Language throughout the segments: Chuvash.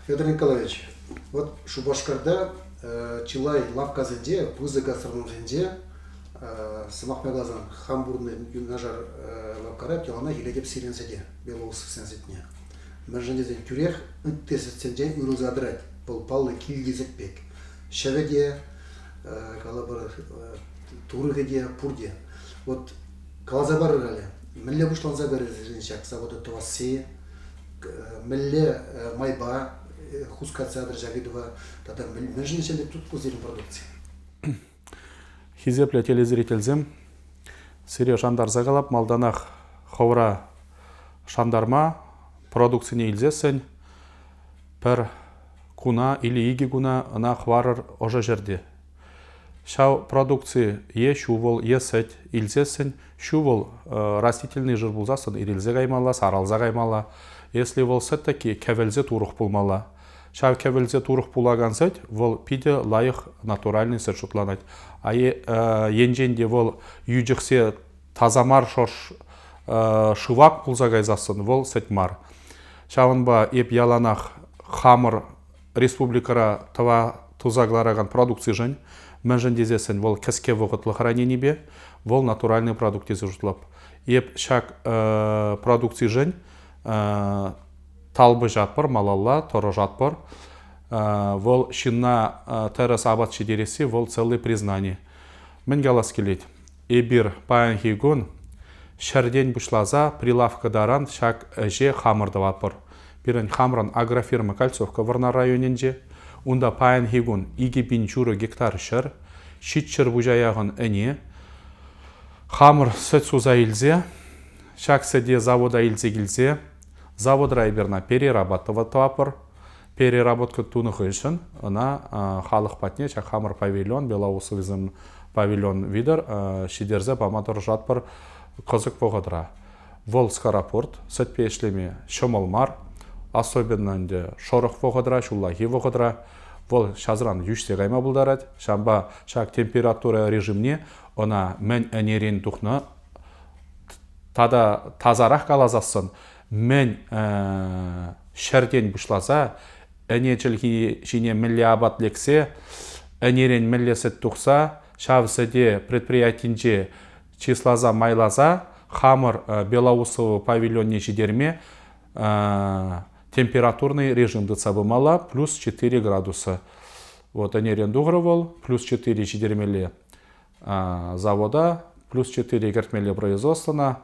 Федор Николаевич, вот Шупашкарта чылай лавккасенче, пысӑк гастрономсенче сӑмах май каласан хам пурнӑҫ юнашар лавккара яланах илетӗп сирӗн сӗте, Белоусовсен сӗтне. Мӗншӗн тесен тӳрех ытти сӗтсенчен уйрӑлса тӑрать. Вӑл паллӑ килти сӗт пек. Ҫӗвӗ те, калӑпӑр, турӑхӗ те, пурте. Вот каласа парӑр халӗ, мӗнле пуҫланса кайрӗ сирӗн ҫак завода тӑвасси? мӗнле майпа хускатса тӑрҫак ыйтӑва тата мӗншӗн ӗҫлет тутку сирӗн продукци? Хисеплӗ телезрительсем, сире шантарса калап, малтанах хӑвра шантарма, продукцине илсессӗн пӗр куна или икӗ куна ӑна хӑварӑр ӑшӑ ҫӗрте. Ҫав продукци е ҫу-вӑл е сӗт илсессӗн ҫу-вӑл растительнӑй жир пулсассӑн ирӗлсе каймалла, сарӑлса каймалла. Если вӑл сӗт таки кӗвӗлсе турӑх пулмалла. Ҫав кӗвӗлсе турӑх пулакан сӗт вӑл питӗ лайӑх натуральный сӗт шутланать. А енчен те вӑл йӳчӗхсе таса мар шӑрш шывак пулса кайсассӑн вӑл сӗт мар. Ҫавӑнпа эп яланах хамӑр республикӑра тӑва туса кӑларакан продукцишӗн, мӗншӗн тесессӗн вӑл кӗске вӑхӑтлӑх раненипе, вӑл натуральный продукт тесе шутлап. Эп ҫак продукцишӗн талпӑшатпӑр, малалла тӑрӑшатпӑр. Вӑл ҫынна тӗрӗс апат ҫитересси вӑл целый признани. Мӗн калас килет, Эпир паянхи кун ҫӗртен пуҫласа прилавка таран ҫак ӗҫе хамӑр тӑватпӑр. Пирӗн хамӑрӑн агрофирма Кольцовка Вӑрнар районӗнче. Унта паянхи кун икӗ пин ҫурӑ гектар ҫӗр, ҫичҫӗрпуҫа яхӑн ӗне, хамӑр сӗт суса илсе, ҫак сӗте завода илсе килсе, заводра эпир перераба тӑватпӑр. Переработка тунӑ хыҫҫӑн ӑна халӑх патне ҫак хамӑр павильон, Белоусовизм павильон витӗр ҫитерсе пама тӑрӑшатпӑр кӑсӑк вӑхӑтра. Вӑл скоропорт, сӗтпе ӗҫлеме ҫӑмӑл мар, особенно ӗнтӗ шӑрӑх вӑхӑтра, ҫуллахи вӑхӑтра. Вӑл ҫасран йӳҫсе кайма пултарать. Ҫавӑнпа ҫак температура режимне ӑна мӗн ӗнерен тухнӑ тата тасарах каласассӑн мӗн ҫӗртен пуҫласа ӗне чӗлхи ҫине мӗнле апат лексе ӗнерен мӗнле сӗт тухса ҫав сӗте предприятинче чысласа майласа хамӑр белоусово павильонне ҫитерме температурный режим тытса пымалла плюс 4 градуса вот ӗнерен тухрӑ вӑл плюс 4 ҫитермелле завода плюс 4 кӗртмелли производствӑна,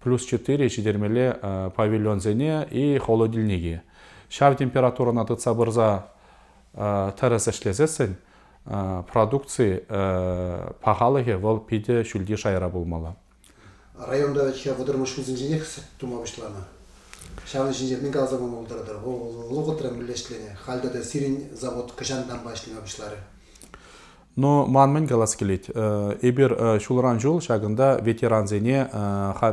плюс 4 ҫитермелли павильонсене и холодильнике. Ҫав температурӑна тытса пырса тӗрӗс ӗҫлесессӗн продукци пахалӑхӗ вӑл питӗ ҫӳлти шайра пулмалла. Районта ҫав вӑтӑрмӗш ҫулсенченех сӗт тума пуҫланӑ. Ҫавӑн ҫинче мӗн каласа пама пултаратӑр? Вӑхӑтран мӗнле ӗҫленӗ? Халь тата сирӗн завод хӑҫантанпа ӗҫлеме пуҫларӗ? Но ман мӗн калас килет, эпир ҫулран ҫул ҫакӑнта ветерансене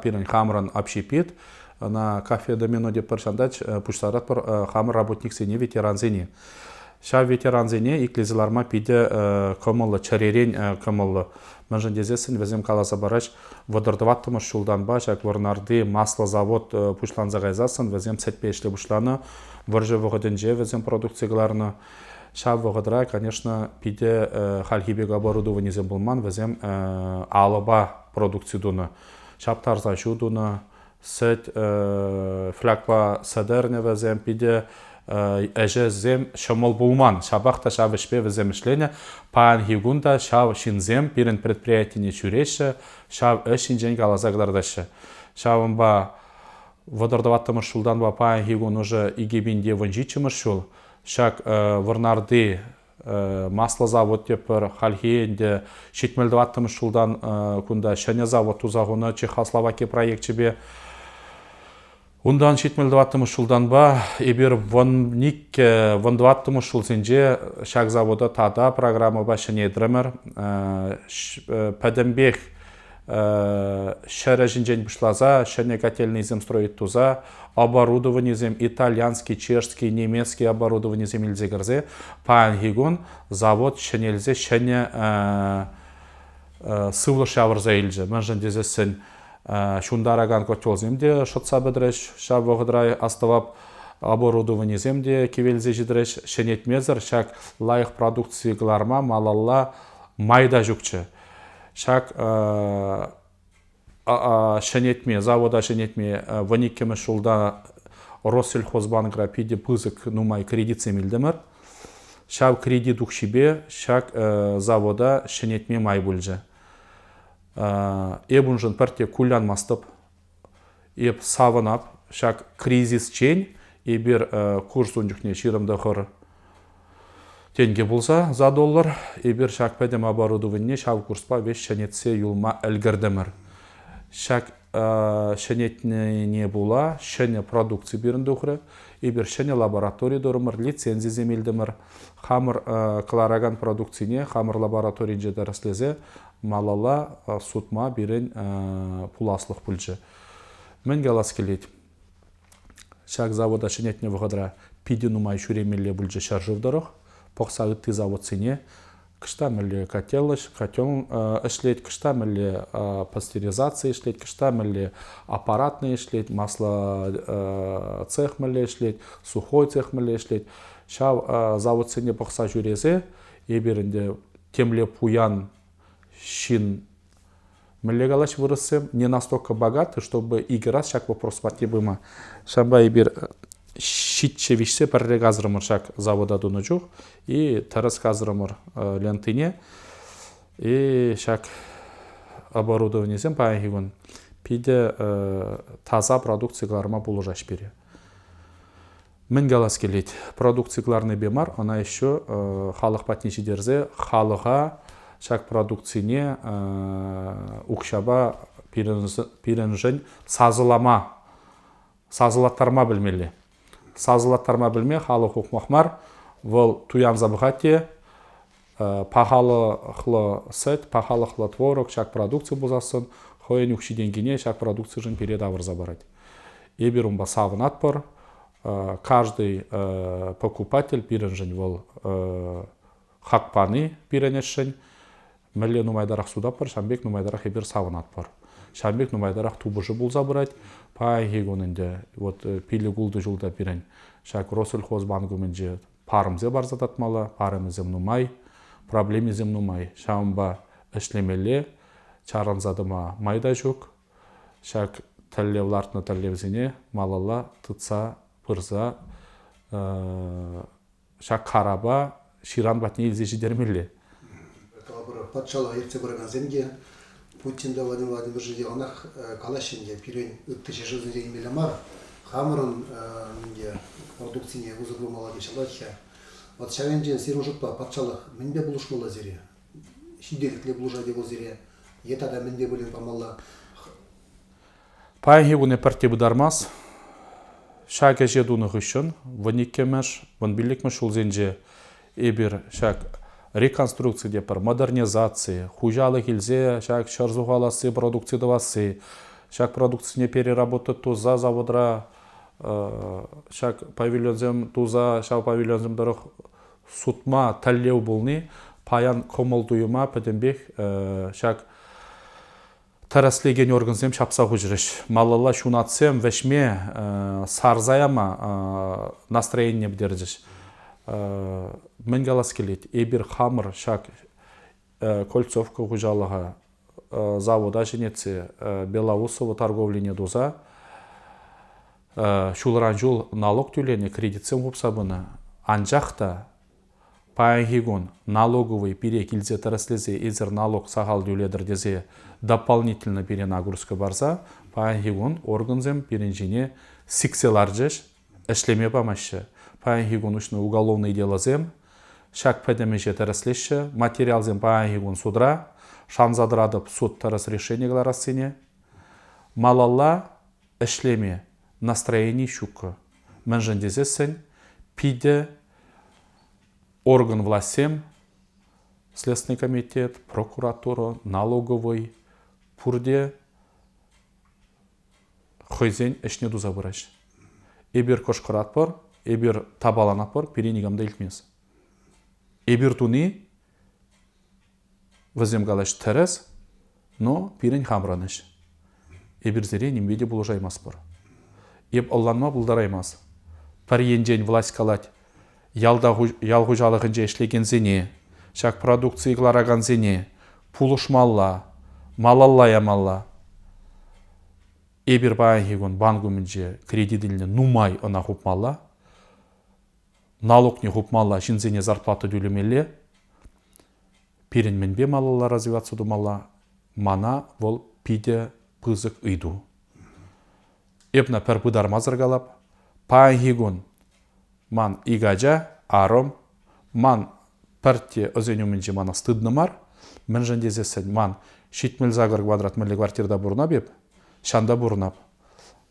пирӗн хамӑрӑн общепит, ӑна кафе домино тетпӗр ҫантач, пуҫларатпӑр хамӑр работниксене, ветерансене. Ҫав ветерансене итлесе ларма питӗ кӑмӑллӑ, чӗререн кӑмӑллӑ. Мӗншӗн тесессӗн вӗсем каласа параҫ, вӑтӑр тӑваттӑмӗш ҫултанпа ҫак Вӑрнарти масло завод пуҫланса кайсассӑн вӗсем сӗтпе ӗҫле пуҫланӑ, вӑрҫӑ вӑхӑтӗнче вӗсем продукци кӑларнӑ. Ҫав вӑхӑтра, конечно, питӗ хальхи пек оборудованисем пулман, вӗсем алӑпа продукци тунӑ, ҫаптарса ҫу тунӑ, Сӗт, флягпа сӑдернӗвӗсем питӗ ӗҫӗсем ҫӑмӑл пулман. Ҫапах та ҫав ӗҫпе вӗсем ӗҫленӗ. Паянхи кун та ҫав ҫынсем пирӗн предприятине ҫӳреҫҫӗ, ҫав ӗҫ ҫинчен каласа кӑтартаҫҫӗ. Ҫавӑнпа вӑтӑр тӑваттӑмӗш ҫултанпа паянхи кун уже икӗ пин те вунҫиччӗмӗш ҫул ҫак Вӑрнарти масло завод тепӗр хальхи ӗнтӗ ҫитмӗл тӑваттӑмӗш ҫултан кунта ҫӗнӗ завод туса хунӑ чехословаки проекчӗпе унтан ҫитмӗл тӑваттӑмӗш ҫултанпа эпир вӑн иккӗ вӑн тӑваттӑмӗш ҫулсенче ҫак завода тата программӑпа ҫӗнетрӗмӗр пӗтӗмпех ҫӗр ӗҫӗнчен пуҫласа ҫӗнӗ котельнӑйсем строить туса оборудованисем итальянский, чешский, немецкий оборудованисем илсе кӗрсе паянхи кун завод ҫӗнелсе ҫӗнӗ сывлӑш явӑрса илчӗ. Мӗншӗн тесессӗн ҫунтаракан котелсем те шӑтса пӗтрӗҫ. Ҫав вӑхӑтра астӑвап оборудованисем те кивелсе ҫитрӗҫ. Ҫӗнетмесӗр ҫак лайӑх продукци кӑларма малалла май та ҫукчӗ. Ҫак ҫӗнетме, завода ҫӗнетме вун иккӗмӗш ҫулта Россельхозбанкра питӗ пысӑк нумай кредитсем илтӗмӗр. Ҫав кредит укҫипе ҫак завода ҫӗнетме май пулчӗ. Эп уншӑн пӗртте кулянмастӑп, Эп савӑнап ҫак кризисчен эпир курс ун чухне ҫирӗм тӑхӑр тенкӗ пулса за доллар эпир ҫак пӗтӗм оборудованине ҫав курспа веҫ ҫӗнетсе юлма ӗлкӗртӗмӗр. Ҫак ҫӗнетнине пула ҫӗнӗ продукци пирӗн тухрӗ. Эпир ҫӗнӗ лаборатори турӑмӑр, лицензисем илтӗмӗр. Хамӑр кӑларакан продукцине хамӑр лабораторинче тӗрӗслесе малалла сутма пирӗн пуласлӑх пулчӗ. Мӗн калас килет? Ҫак завода ҫӗнетнӗ вӑхӑтра питӗ нумай ҫӳремелле пулчӗ ҫӗршыв тӑрӑх. Пӑхса ытти заводсене кӑшта мӗнле котеллӑч, котел ӗҫлет, кӑшта мӗнле пастеризаци ӗҫлет, кӑшта мӗнле аппаратный ӗҫлет, масло цех мӗнле ӗҫлет, сухой цех мӗнле ӗҫлет. Ҫав заводсене пӑхса ҫӳресе эпир ӗнтӗ темле пуян ҫын мӗнле калаҫ вырӑссем не настолько богаты чтобы икӗ раз ҫак вопрос патне пыма ҫавӑнпа эпир ҫиччӗ виҫсе пӗрре касрӑмӑр ҫак завода тунӑ чух и тӗрӗс касрӑмӑр лентине и ҫак оборудованисем паянхи кун питӗ таса продукци кӑларма пулӑшаҫ пире Мӗн калас килет, продукци кӑларнипе мар, ӑна еще халӑх патне ҫитерсе халӑха ҫак продукцине укҫапа пирӗншӗн сасӑлама, сасӑлаттарма пӗлмелле. Сасӑлаттарма пӗлме халӑх ухмах мар, вӑл туянса пӑхать те пахалӑхлӑ сӗт, пахалӑхлӑ творог ҫак продукци пулсассӑн хӑйӗн укҫи-тенкине ҫак продукцишӗн пире тавӑрса парать. Эпир унпа савӑнатпӑр. Каждый покупатель пирӗншӗн вӑл хак пани пирӗн ӗҫшӗн. Мӗнле нумайтарах сутатпӑр, ҫавӑн пек нумайтарах эпир савӑнатпӑр. Ҫавӑн пек нумайтарах тупӑшу пулса пырать. Паянхи кун ӗнтӗ вот пилӗк-ултӑ ҫулта пирӗн ҫак Россельхозбанк умӗнче парӑмсем парса татмалла, арӑмӗсем нумай, проблемисем нумай. Ҫавӑнпа ӗҫлемелле, чарӑнса тӑма май та ҫук. Ҫак тӗллев лартнӑ тӗллевсене малалла тытса пырса ҫак карапа ҫыран патне илсе ҫитермелле. Калӑпӑр, патшалӑха ертсе пыракансем те Путин та Владимир Владимирович яланах калаҫҫӗ ӗнтӗ, пирӗн ытти ҫӗршывсенче илмелле мар, хамӑрӑн ӗнтӗ продукцине усӑ курмалла теҫҫӗ латхӗ. Вот ҫав енчен сирӗн шутпа патшалӑх мӗнпе пулӑшмалла сире? Ҫитес пулӑшать-и вӑл сире? Е тата мӗнпе пулин памалла? Паянхи куне пӗртте пытармасть. Ҫак ӗҫе тунӑ хыҫҫӑн вӑн иккӗмӗш, вӑн пиллӗкмӗш ҫулсенче эпир ҫак реконструкци те пӗр модернизаци, хуҫалӑх илсе ҫак ҫӗр сухаласси продукци тӑвасси, ҫак продукцине переработать туса заводра ҫак павильонсем туса ҫав павильонсем тӑрӑх сутма тӗллев пулни паян кӑмӑл-туйӑма пӗтӗмпех ҫак тӗрӗслекен органсем ҫапса хуҫрӗҫ. Малалла ҫунатсем вӗҫме, сарса яма настроение пӗтерчӗҫ. Мӗн калас килет, эпир хамӑр ҫак Кольцовка хуҫалӑха завода ҫӗнетсе Белоусово торговлине туса ҫулран ҫул налог тӳленӗ, кредитсем хупса пынӑ. Анчах та Паянхи кун налоговӑй пире килсе тӗрӗслесе эсир налог сахал тӳлетӗр тесе дополнительно пире нагрузка парса паянхи кун органсем пирӗн ҫине сиксе ларчӗҫ, ӗҫлеме памаҫҫӗ. Паянхи кун уҫнӑ уголовнӑй делосем ҫак пӗтӗм ӗҫе тӗрӗслеҫҫӗ. Материалсем паянхи кун судра. Шанса тӑратӑп суд тӗрӗс решение кӑларассине. Малалла ӗҫлеме настроени ҫуккӑ. Мӗншӗн тесессӗн питӗ орган влаҫсем, Следственный комитет, прокуратура, налоговый, пурте хӑйсен ӗҫне туса пыраҫҫӗ. Эпир кӑшкӑратпӑр, эпир табаланатпӑр, пире никам та илтмест. Эпир туни Вӗсем калаҫ тӗрӗс, но пирӗн хамӑрӑнӑҫ. Эпир сире нимпе те пулӑшаймастпӑр. Эп ӑнланма пултараймас. Пӗр енчен власть калать ял хуҫалӑхӗнче ӗҫлекенсене, ҫак продукцие кӑларакансене пулӑшмалла, малалла ямалла. Эпир паянхи кун банк умӗнче кредит илнӗ нумай ӑна хупмалла. налукне хупмалла, ҫынсене зарплата тӳлемелле. Пирӗн мӗнпе малалла развиваться тумалла? Мана вӑл питӗ пысӑк ыйту. Эп на пӗр пытармасӑр калап. Паянхи кун ман ик ача, арӑм, ман пӗртте ӑсен умӗнче мана стыдно мар, мӗншӗн тесессӗн ман ҫитмӗл сакӑр квадрат мӗнле квартирта пурӑнап эп, ҫанта пурӑнап.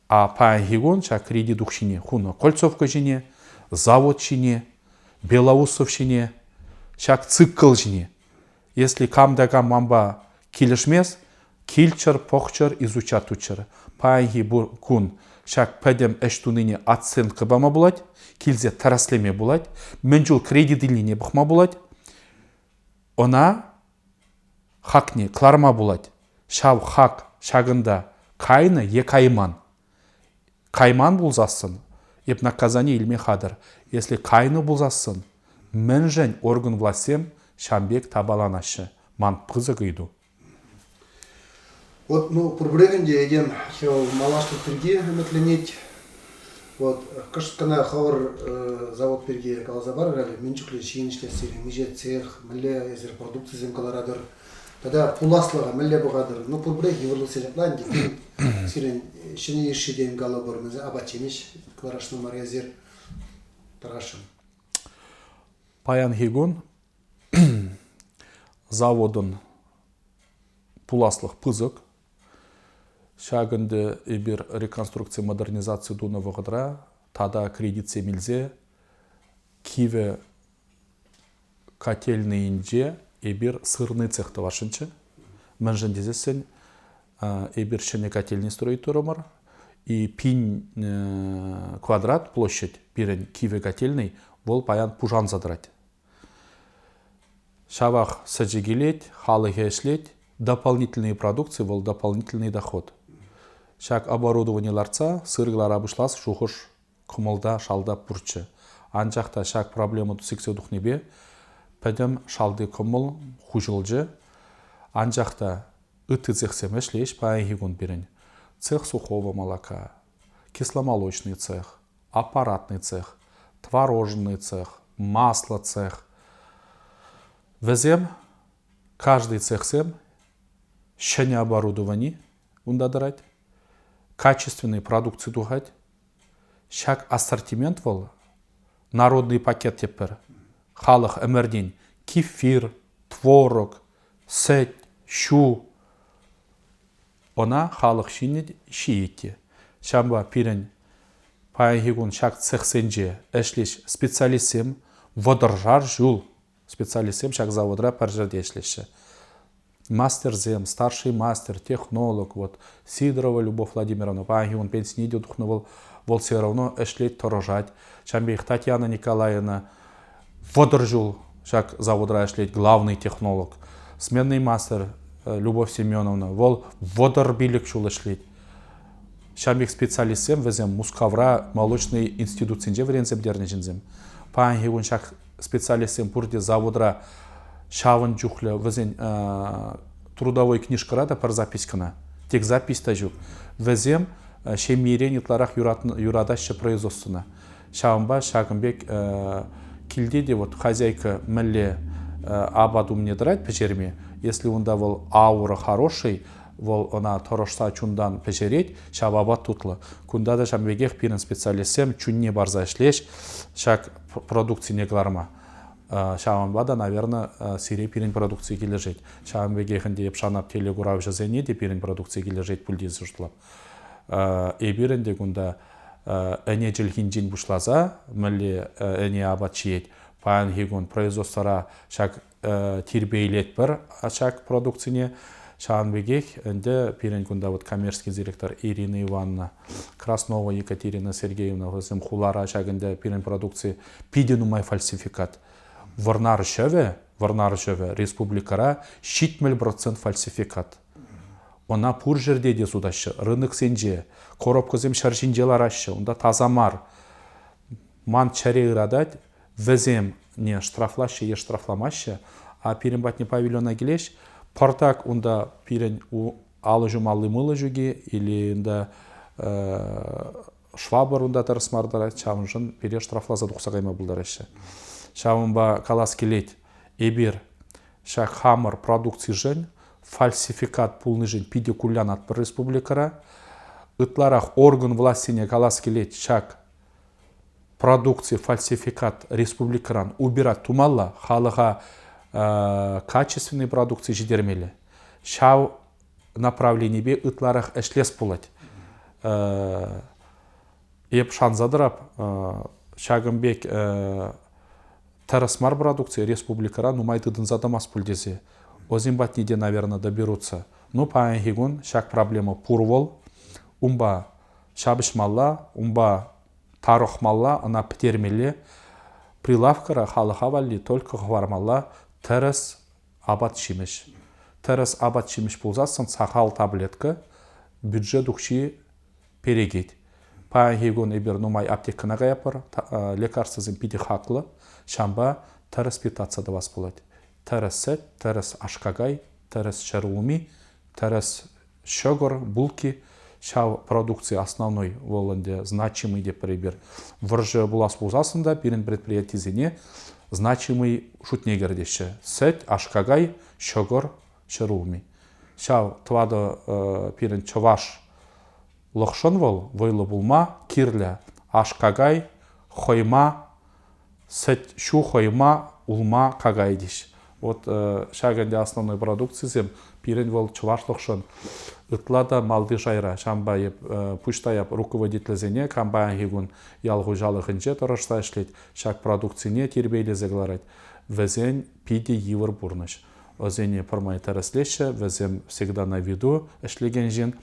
А паянхи кун ҫак кредит укҫине хунӑ Кольцовка ҫине, завод ҫине, Белоусов ҫине, ҫак цикл ҫине. Если кам да кам манпа килӗшмест, килччӗр, пӑхчӑр, изучат туччӑр. Паянхи кун ҫак пӗтӗм ӗҫ тунине оценка пама пулать, килсе тӗрӗслеме пулать, мӗн чул кредит илнине пӑхма пулать. Ӑна Хакне кӑларма пулать. Ҫав хак ҫакӑнта кайнӑ е кайман. Кайман пулсассӑн эп наказание илме хатӑр. Если кайнӑ пулсассӑн мӗншӗн орган влаҫсем ҫан пек тапаланаҫҫӗ? Ман пысӑк ыйту. Вот, ну, пур времени те этем малашлӑх пирки ӗмӗтленет. Вот, кӑшт кӑна хӑвӑр завод пирки каласа парӑр, менчукле ҫын ӗҫлессир, миҫетсех, мӗнле эсир продукцисем кӑларатӑр, тата пуласлӑха мӗнле пӑхатӑр, ну, пурпӗрех йывӑрлӑхсем ҫапла ӗнтӗ. Сирӗн ҫӗнӗ йышши тем калӑпӑр, мӗнсем апат-ҫимӗҫ кӑларасшӑн мар эсир. Тӑрасшӑн. Паянхи кун заводӑн пуласлӑх пысӑк. Ҫак ӗнтӗ эпир реконструкци модернизаци тунӑ вӑхӑтра тата кредитсем илсе кивӗ котельнӑйӗнче эпир сырный цех тӑвасшӑнччӗ. Мӗншӗн тесессӗн эпир ҫӗнӗ котельнӑй строить турӑмӑр. И пин квадрат площадь пирӗн кивӗ котельнӑй вӑл паян пушанса тӑрать. Ҫавах сӗчӗ килет, халӑхӗ ӗҫлет, дополнительные продукции вӑл дополнительный доход. Ҫак оборудовани лартса сыр кӑлара пуҫлас шухӑш кӑмӑлта шалта пурччӗ. Анчах та ҫак проблема сиксе тухнипе пӗтӗм шалти кӑмӑл хуҫӑлчӗ. Анчах та ытти цехсем ӗҫлеҫ паянхи кун пирӗн. Цех сухого молока, кисломолочный цех, аппаратный цех, творожный цех, масло цех. Вӗсем, каждый цехсем ҫӗнӗ оборудовани унта тӑрать, качественной продукции тухать. Ҫак ассортимент вӑл народный пакет теп пӗр. Халӑх ӗмӗртен кефир, творог, сӗт, ҫу, ӑна халӑх ҫинӗ ҫийӗ те. Ҫавӑнпа пирӗн паянхи кун ҫак цехсенче ӗҫлӗҫ специалистсем, вӑтӑршар ҫул специалистсем ҫак заводра пӗр ҫӗрте ӗҫлеҫҫӗ. Мастерсем, старший мастер, технолог, вот Сидорова Любовь Владимировна, паянхи кун пенсине те тухнӑ вӑл, вӑл все равно ӗҫлет, тӑрӑшать. Ҫавӑн пекех Татьяна Николаевна Вӑтӑр ҫул ҫак заводра ӗҫлет главный технолог, сменный мастер Любовь Семеновна. Вӑл вӑтӑр пилӗк ҫул ӗҫлет. Ҫam пек специалистсем вӗсем Мускавра молочнӑй институтсенче вӗренсе пӗтернӗ ҫынсем. Паянхи кун ҫак специалистсем пурте заводра ҫавӑн чухлӗ вӗсен трудовой книжкӑра та пӗр запискӑна, тек запись та ҫук. Вӗсем ҫемьерен ытларах юратаҫҫӗ производствӑна. Ҫавӑнпа ҫакӑн пек килте те вот хозяйка мӗнле апат умне тӑрать пӗҫерме, если унта вӑл аура хороший, вӑл ӑна тӑрӑшса чунтан пӗҫерет, ҫав апат тутлӑ. Кунта та ҫавӑн пекех пирӗн специалистсем чунне парса ӗҫлеҫ ҫак продукцине кӑларма. Ҫавӑнпа та, наверное, сире пирӗн продукци килӗшет. Ҫавӑн пекех ӗнтӗ Епшанат телекуравҫӑсене те пирӗн продукци килӗшет пуль тесе шутлап. Эпир ӗнтӗ кунта ӗне чӗлхинчен пуҫласа мӗнле ӗне апат ҫиет, паянхи кун производствӑра ҫак тирпейлетпӗр ҫак продукцине. Ҫавӑн пекех ӗнтӗ пирӗн кунта вот коммерческий директор Ирина Ивановна, Краснова Екатерина Сергеевна вӗсем хулара ҫак ӗнтӗ пирӗн продукци питӗ нумай фальсификат. Вӑрнар ҫӑвӗ, Вӑрнар ҫӑвӗ республикӑра ҫитмӗл процент фальсификат. Ӑна пур ҫӗрте те сутаҫҫӗ. Рыноксенче, коробкӑсем ҫӗр ҫинче лараҫҫӗ, унта таса мар. Ман чӗре ыратать, вӗсене штрафлаҫҫӗ е штрафламаҫҫӗ. А пирӗн патне павильона килеҫ, пӑртак унта пирӗн алӑ ҫумалли мыло ҫуки или унта швабр унта тӑрӑс мар тӑрать, ҫавӑншӑн пире штрафласа тухса кайма пултараҫҫӗ. Ҫавӑнпа калас килет, Эпир ҫак хамӑр продукцишӗн фальсификат пулнишӗн питӗ кулянатпӑр республикӑра. Ытларах орган влаҫсене калас килет ҫак продукци фальсификат республикӑран убирать тумалла, халӑха качественный продукци ҫитермелле. Ҫав направленипе ытларах ӗҫлес пулать. Эп шанса тӑрап, ҫакӑн пек тӗрӗс мар продукци республикӑра нумай тытӑнса тӑмасть пуль тесе вӗсем патне те, наверное, доберутся. Ну, паянхи кун ҫак проблема пур вӑл. Унпа ҫапӑҫмалла, унпа тарӑхмалла, ӑна пӗтермелле. Прилавкӑра халӑха валли только хӑвармалла тӗрӗс апат-ҫимӗҫ. Тӗрӗс апат-ҫимӗҫ пулсассӑн сахал таблетка, бюджет укҫи перекет. Паянхи кун эпир нумай аптекӑна каятпӑр, лекарствӑсем питӗ хаклӑ. Ҫавӑнпа тӗрӗс питтатса тӑвас пулать. Тӗрӗс сӗт, тӗрӗс аш-какай, тӗрӗс ҫӗр улми, тӗрӗс ҫӑкӑр, булки. Ҫав продукци основной вӑл ӗнтӗ значимый тепӗр эпир. Вӑрҫӑ пулас пулсассӑн та пирӗн предприятисене значимый шутне кӗртеҫҫӗ. Сӗт, аш-какай, ҫӑкӑр, ҫӗр улми. Ҫав тӑватӑ пирӗн чӑвашлӑхшӑн вӑл вӑйлӑ пулма кирлӗ, аш-какай, хӑйма, сӗт, ҫу хӑйма, улма, какай теҫ. Вот ҫак ӗнтӗ основной продукцисем пирӗн вӑл чӑвашлӑхшӑн ытла та малти шайра. Ҫавӑнпа эп пуҫта эп руководительсене компании кун ял хуҫалӑхӗнче тӑрӑшса ӗҫлет, ҫак продукцине тирпейлесе кӑларать. Вӗсен питӗ йывӑр пурнӑҫ. Ӑсене пӗрмай тӗрӗслеҫҫӗ, вӗсем всегда на виду ӗҫлекен ҫын.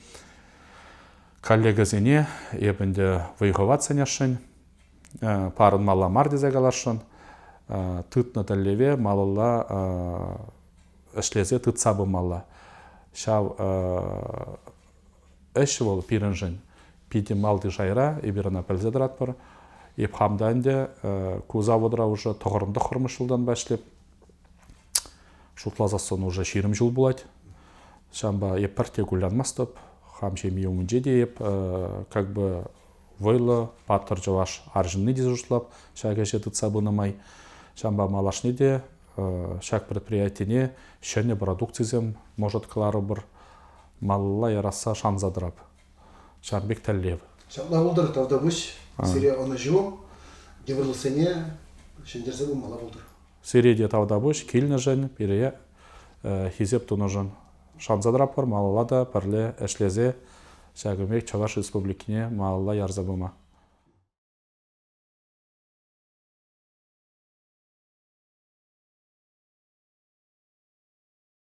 Коллегӑсене эп ӗнтӗ вӑй-хӑват сӗнесшӗн, парӑнмалла мар тесе каласшӑн. Тытнӑ тӗллеве малалла ӗҫлесе тытса пымалла. Ҫав ӗҫ вӑл пирӗншӗн питӗ малти шайра, эпир ӑна пӗлсе тӑратпӑр. Эп хам та ӗнтӗ ку заводра уже тӑхӑрӑм тӑххӑрмӗш ҫултанпа ӗҫлеп. Шутласассӑн уже ҫирӗм ҫул пулать. Ҫавӑнпа эп пӗртте кулянмастӑп. Хам ҫемье умӗнче те эп как бы вӑйлӑ, паттӑр чӑваш арҫынни тесе шутлап ҫак ӗҫе тытса пынӑ май. Ҫавӑнпа малашне те ҫак предприятине ҫӗнӗ продукцисем, может, кӑларӑпӑр, малла ярасса шанса тӑрап. Ҫавӑн пек тӗллев. Ҫапла пултӑр, тавтапуҫ. Сире ӑнӑҫу, йывӑрлӑхсене ҫӗнтерсе пымалла пултӑр. Сире те тавтапуҫ килнӗшӗн, пире хисеп тунӑшӑн. Шанса тӑратпӑр малалла та пӗрле ӗҫлесе ҫакӑн пек Чӑваш Республикине малалла ярса пыма.